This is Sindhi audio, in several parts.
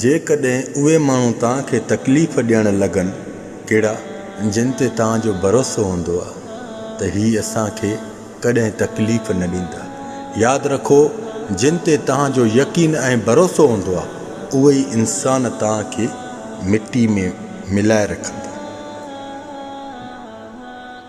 جيڪڏهن اهي ماڻهو توهان کي تڪليف ڏيڻ لڳن ڪهڙا جن تي توهان جو ڀروسو هوندو آهي ته هي اسان کي ڪڏهن تڪليف نه ڏيندا. ياد رکو جن تي توهان جو يقين ۽ ڀروسو هوندو آهي اهي ئي انسان توهان کي مٽي ۾ ملائي رکندا.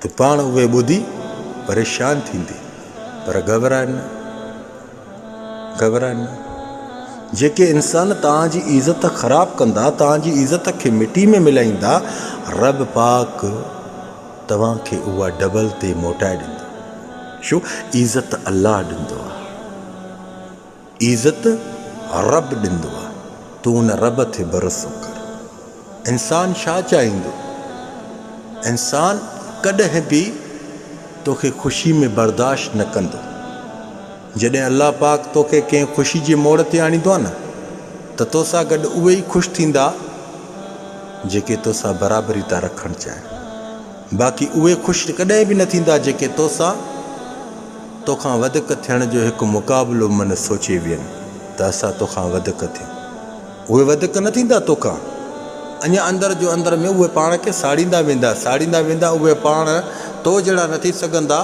ته پاڻ اهي ٻڌي پريشان ٿيندي، پر گهٻراء نه، گهٻراء نه، جيڪي انسان توهان جي عزت خراب ڪندا، توهان جي عزت کي مٽي ۾ ملائيندا، رب پاڪ توهان کي اها ڊبل تي موٽائي ڏيندو، ڇو عزت الله ڏيندو آهي. عزت رب ڏندو آ تون ان رب تي ڀروسو ڪر انسان ڇا چاهيندو انسان ڪڏهن به توکي خوشي ۾ برداشت نه ڪندو جڏهن الله پاڪ توکي ڪنهن خوشي جي موڙ تي آڻيندو آ نه ته توسان گڏ اهي ئي خوش ٿيندا جيڪي توسان برابري ٿا رکڻ چاهين. باقي اهي خوش ڪڏهن به نه ٿيندا جيڪي توسان توکان وڌڪ ٿيڻ جو هڪ مقابلو من سوچي وين ته اسان توکان وڌڪ ٿيون. اهي وڌڪ نه ٿيندا توکان. اڃا اندر جو اندر ۾ اهي پاڻ کي ساڙيندا ويندا ساڙيندا ويندا اهي پاڻ تو جهڙا نه ٿي سگهندا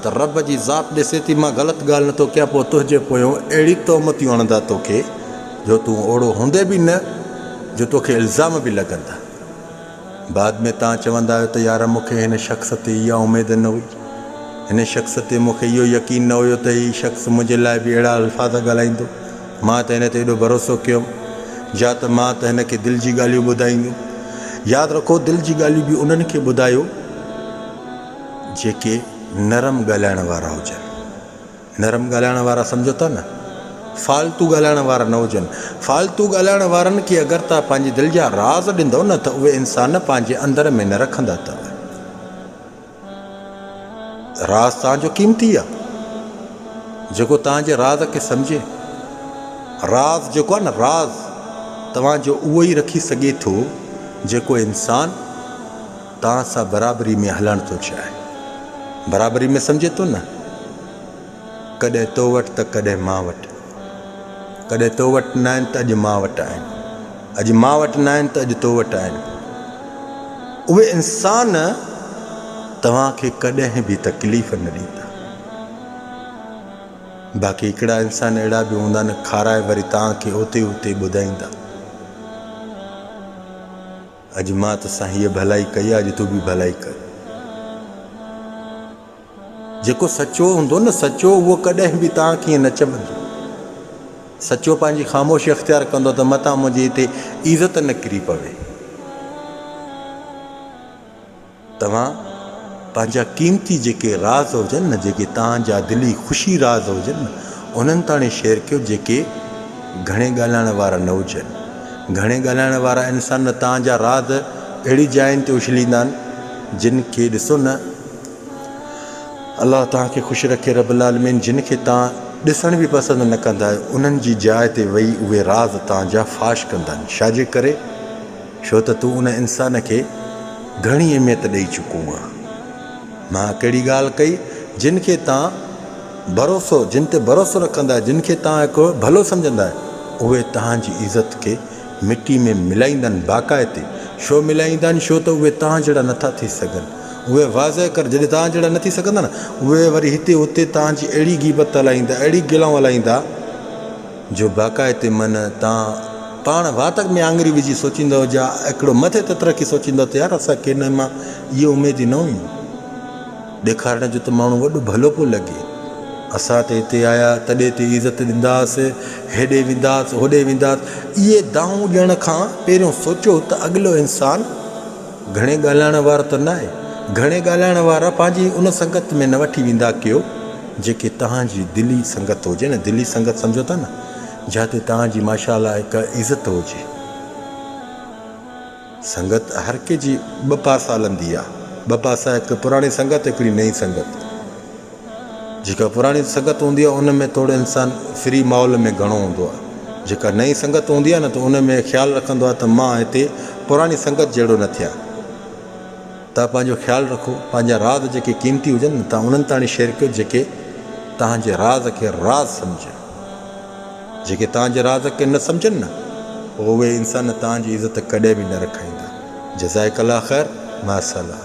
ته رب جي ذات ڏسي ٿي مان غلط ڳالهه نه ٿو ڪيان پوء تنهنجي پويون اهڙي تهمتيون هڻندا توکي جو تون اوڙو هوندي به نه جو توکي الزام به لڳندا. بعد ۾ توهان چوندا آهيو ته يار مون کي هن شخص تي اها اميد نه هئي. هن شخص تي مون کي اهو يقين نه هيو ته هي شخص منهنجي لاء به اهڙا الفاظ ڳالهائيندو. مان ته هن تي ايڏو ڀروسو ڪيو هوم جا ته مان ته هن کي دل جي ڳالهيون ٻڌائينديون. ياد رکو دل جي ڳالهيون به انهن کي ٻڌايو جيڪي نرم ڳالهائڻ وارا هجن. نرم ڳالهائڻ وارا سمجهو ٿا نه فالتو ڳالهائڻ وارا نه هجن فالتو ڳالهائڻ وارن کي اگر تهان پنهنجي دل جا راز ڏيندو نه ته اهي انسان پنهنجي اندر ۾ نه رکندا ته راز تهان جو قيمتي آ جيڪو تهان جي راز کي سمجهي راز جيڪو آ نه راز توهان جو اهو ئي رکي سگهي ٿو جيڪو انسان توهان سان برابري ۾ هلڻ ٿو چاهي. برابري ۾ سمجهي ٿو نه؟ ڪڏهن تو وٽ ته ڪڏهن مان وٽ. ڪڏهن تو وٽ ناهن ته اڄ مان وٽ آهن. اڄ مان وٽ ناهن ته اڄ تو وٽ آهن. اهي انسان توهان کي ڪڏهن به تڪليف نه ڏيندا. باقي هڪڙا انسان اهڙا به هوندا نه کارائي وري توهان کي اوتي اوتي ٻڌائيندا. اڄ مان ته سائين هيء ڀلائي ڪئي آ اڄ تون به ڀلائي ڪر. جيڪو سچو هوندو نه سچو اهو ڪڏهن به تان ڪيئن نه چٻندو. سچو پنهنجي خاموشي اختيار ڪندو ته متان منهنجي هتي عزت نه ڪري پوي. توهان پنهنجا قيمتي جيڪي راز هجن نه جيڪي توهان جا دلي خوشي راز هجن نه انهن تاڻي شيئر ڪيو جيڪي گهڻي ڳالهائڻ وارا نه هجن گهڻي ڳالهائڻ وارا انسان نه توهان جا راز اهڙي جاين تي اڇليندا آهن جن کي ڏسو نه الله توهان کي خوش رکي رب العالمين جن کي توهان ڏسڻ به پسند نه ڪندا آهيو انهن جي جاء تي ويهي اهي راز توهان جا فاش ڪندن شاجي ڪري ڇو ته تون ان انسان کي گهڻي اهميت ڏئي چڪو آهين. مان ڪهڙي ڳالهه ڪئي؟ جن کي تان ڀروسو، جن تي ڀروسو رکندا آهيو، جن کي تان هڪ ڀلو سمجهندا آهيو، اهي توهان جي عزت کي مٽي ۾ ملائيندا آهن، باقاعدي ڇو ملائيندا آهن؟ ڇو ته اهي توهان جهڙا نٿا ٿي سگهن. اهي واضح ڪر، جڏهن توهان جهڙا نه ٿي سگهندا نه، اهي وري هتي هتي توهان جي اهڙي غيبت هلائيندا، اهڙي گلائون هلائيندا، جو باقاعدي من تان پاڻ واتڪ ۾ آڱري وجهي سوچيندؤ جا هڪڙو مٿي تت رکي سوچيندؤ ته يار اسان کي هن مان اهي اميديون نه هيون ڏيکارڻ جو ته ماڻهو وڏو ڀلو پيو لڳي اسان ته هتي آيا تڏي تي عزت ڏينداس هيڏي وينداس هوڏي وينداس اهي دانهون ڏيڻ کان پهريون سوچيو ته اڳلو انسان گهڻي ڳالهائڻ وارو ته نه آهي. گهڻي ڳالهائڻ وارا پنهنجي ان سنگت ۾ نه وٺي ويندا ڪيو جيڪي توهان جي دلي سنگت هجي نه دلي سنگت سمجهو ٿا نه جاتي توهان جي ماشاء الله هڪ عزت هجي سنگت هر ڪنهن جي ٻه پاسا هلندي آهي ٻه پاسا هڪ پراڻي سنگت هڪڙي نئين سنگت. جيڪا پراڻي سنگت هوندي آهي ان ۾ توڙي انسان فري ماحول ۾ گهڻو هوندو آهي جيڪا نئين سنگت هوندي آهي نه ته ان ۾ خيال رکندو آهي ته مان هتي پراڻي سنگت جهڙو نه ٿيان تان پنهنجو خيال رکو پنهنجا راز جيڪي قيمتي هجن نه تان انهن تاڻي شيئر ڪيو جيڪي تان جي راز کي راز سمجهن جيڪي تان جي راز کي نه سمجهن نه پوء اهي انسان تان جي عزت ڪڏهن به نه رکائيندا جزائڪ الله خير مع السلام